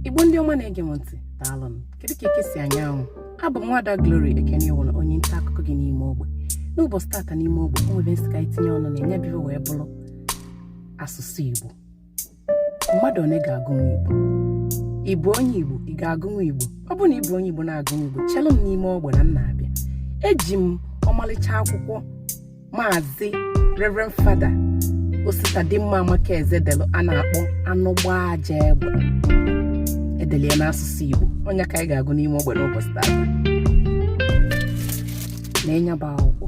igbo ndị ọma na-ege m ntị daalụnụ kedu ka eke si anya anwụ abụ m nwada Glory Ekenewụrụ onye nta akụkọ gị n'ime ogbe n'ụbọchị tata n'ime ogbe o nwere ihe m sị ka anyị tinye ọnụ na nya bụ ife wee bụrụ asụsụ igbo mmadụ one ga-agụnwu igbo ị bụ onye igbo ị ga-agụnwu igbo ọ bụ na ị bụ onye igbo na-agụnwu igbo chelụ m n'ime ogbe na m na-abịa eji m ọmalịcha akwụkwọ maazị reverend fada Ositadịmma Amakeze delụ a na-akpọ anụ gbaa ajọ egbe e delụ ya n'asụsụ igbo ọ nya ka anyị ga-agụ n'ime ogbe n'ụbọchị taa na nya bụ akwụkwọ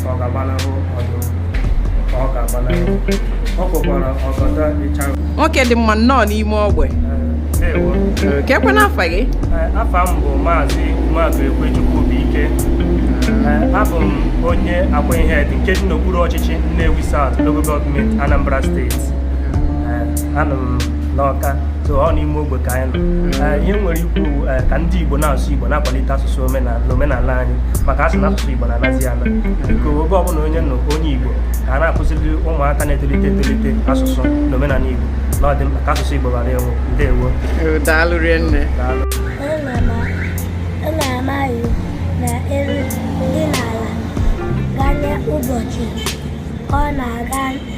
ọ ga-agbanahụ ọdụm ka ọ ga-agbanahụ ọ kpọkwara ọgọdọ ịcha nwoke dị mma nnọọ n'ime ogbe ndewo kee kwanụ afa gị Eh, afa m bụ maazị maazị ekwechukwu bụ ike Eh, abụ m onye Akwaihedi nke dị n'okpuru ọchịchị Nnewi South Local Government Anambra Steeti Eh, anọ m n'ọka so ọ n'ime ogbe ka anyị nọ Eh, ihe m nwere ikwu bụ, eh, ka ndị igbo na-asụ igbo na-akwalite asụsụ omenala omenala anyị maka a sị na asụsụ igbo na-anazi ana biko ebe ọbụla onye nọ onye igbo ka a na-akụziri ụmụaka na-etolite etolite asụsụ na omenala igbo na ọ dị mkpa ka asụsụ igbo ghara ịnwụ ndewo Eh, daalụ rinne daalụ Ọ na-ama iwu na elu dị n'ala ganye ụbọchị ọ na-aga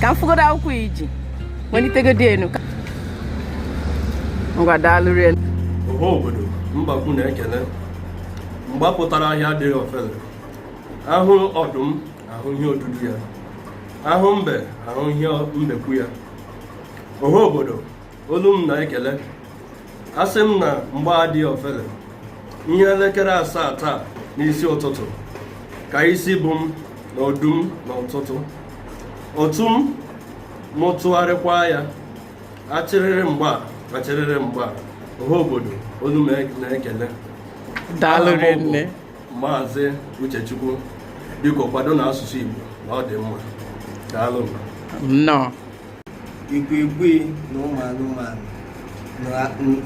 ka m fụgodo akwụkwọ i ji welitegodi enu ngwa daalụ rinne ọha obodo mbekwu na-ekele mgba pụtara ahịa adịghị ofele a hụ ọdụm a hụ ihe odudu ya a hụ mbe a hụ ihe mbekwu ya ọha obodo olu m na-ekele asị m na mgba adị ofele ihe elekere asaa taa n'isi ụtụtụ ka isi bụ m na ọdụm n'ụtụtụ ọ tụọ m mụ tụgharịkwa ya achịrịrị mgba achịrịrị mgba ọha obodo olu m na-ekele daalụ rinne maazị uchechukwu biko kwadonụ asụsụ igbo na ọ dị mma daalụ nnọọ ikwikwi na ụmụ anụmanụ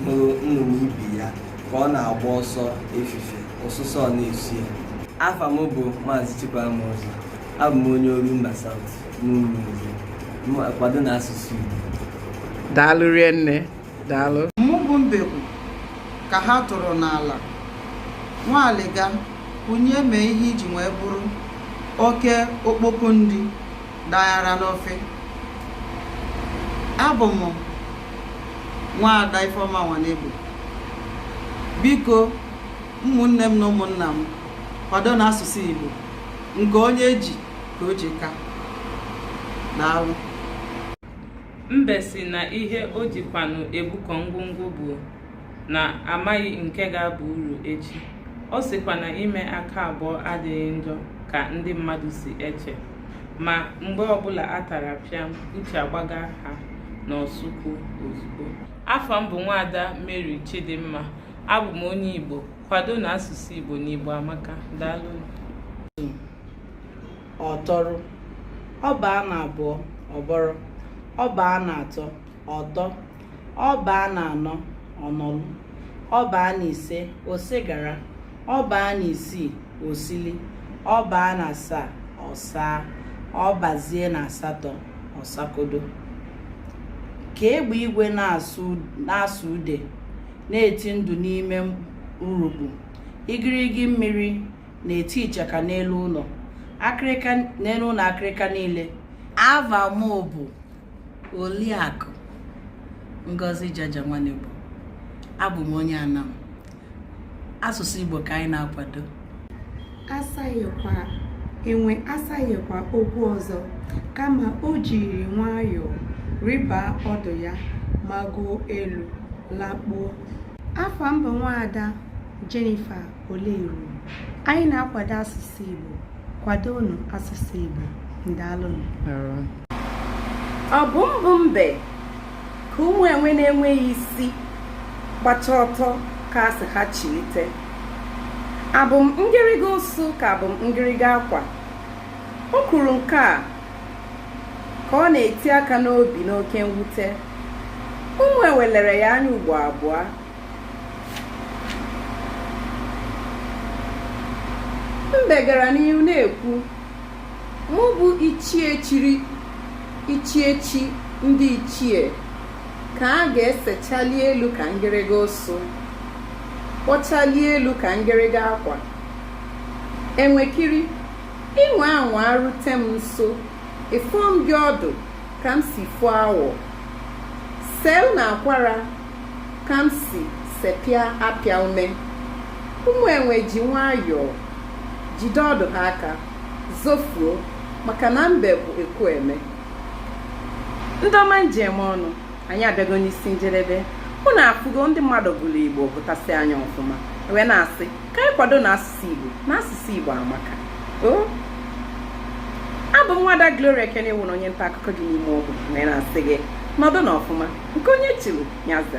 hụrụ nnụnụ ibe ya ka ọ na-agba ọsọ efife ọsụsọ na-esi ya afa m bụ maazị Chukwuma Ọzọ abụ m onye Orumba South n'Umunze kwadonụ asụsụ Igbo daalụ rinne daalụ mụ bụ mbekwu ka ha tụrụ n'ala nwa aliga onye mee ihe iji wee bụrụ oke okpoko nri daghara n'ofe abụ m nwaada Ifeoma Nwanegbu biko ụmụnne m na ụmụnna m kwadonụ asụsụ Igbo nke onye ji ka o ji ka daalụ mbe sị na ihe o jikwanụ ebukọ ngwongwo bụ na amaghị nke ga-aba uru echi ọ sịkwa na ime aka abụọ adịghị njọ ka ndị mmadụ si eche ma mgbe ọbụla a tara pịam uche agbaga ha n'ọsụkwu ozugbo afa m bụ nwaada Mary Chidimma abụ m onye Igbo kwadonụ asụsụ Igbo na Igbo amaka daalụ ọtọrọ ọ baa na abụọ ọbọrọ ọ baa na atọ ọtọ ọ baa na anọ ọnọlụ ọ baa na ise osigara ọ baa na isii osili ọ baa na asaa ọsaa ọ bazie na asatọ ọsakodo ka egbe igwe na-asụ ude na-eti ndụ n'ime urukpu igirigi mmiri na-eti ichaka n'elu ụlọ akịrịka n'elu ụlọ akịrịka niile ava m bụ Oliakụ Ngozi Jaja Nwanegbo abụ m onye Anam asụsụ Igbo ka anyị na-akwado asaghịkwa enwe asaghịkwa okwu ọzọ kama o jiri nwayọọ rịba ọdụ ya magoo elu lakpuo afa m bụ nwaada Jennifer Oleru anyị na-akwado asụsụ Igbo kwadonụ asụsụ Igbo ndalụnụ ọ bụ m bụ mbe ka ụmụ enwe na-enweghị isi gbacha ọtọ ga-asị ha chilite abụ m ngịrịga ụsụ ka abụ m ngịrịga akwa o kwuru nke a ka ọ na-eti aka n'obi n'oke mwute ụmụ enwe lere ya anya ugbo abụọ mbe gara n'ihu na-ekwu mụ bụ ichie chiri echichi ndị ichie ka a ga-esechali elu ka ngịrịga ụsụ kpọchali elu ka ngịrịga akwa enwekiri ị nwaa anwa rute m nso afọọ m gị ọdụ ka m si fọọ awọ sel na akwara ka m si sepịa apịa ume ụmụ enwe ji nwayọọ jide ọdụ ha aka zofuo maka na mbe bụ ekwueme ndị ọma m ji eme ọnụ anyị abịago n'isi njedebe ụnụ afụgo ndị mmadụ gụrụ igbo gụtasịa nya ọfụma wee na-asị ka anyị kwado na asụsụ igbo na asụsụ igbo amaka abụ m nwada Glory Ekene wụrụ onye nta akụkọ gị n'ime ọgwụ wee na-asị gị nọdụ na ọfụma nke onye chiri nya za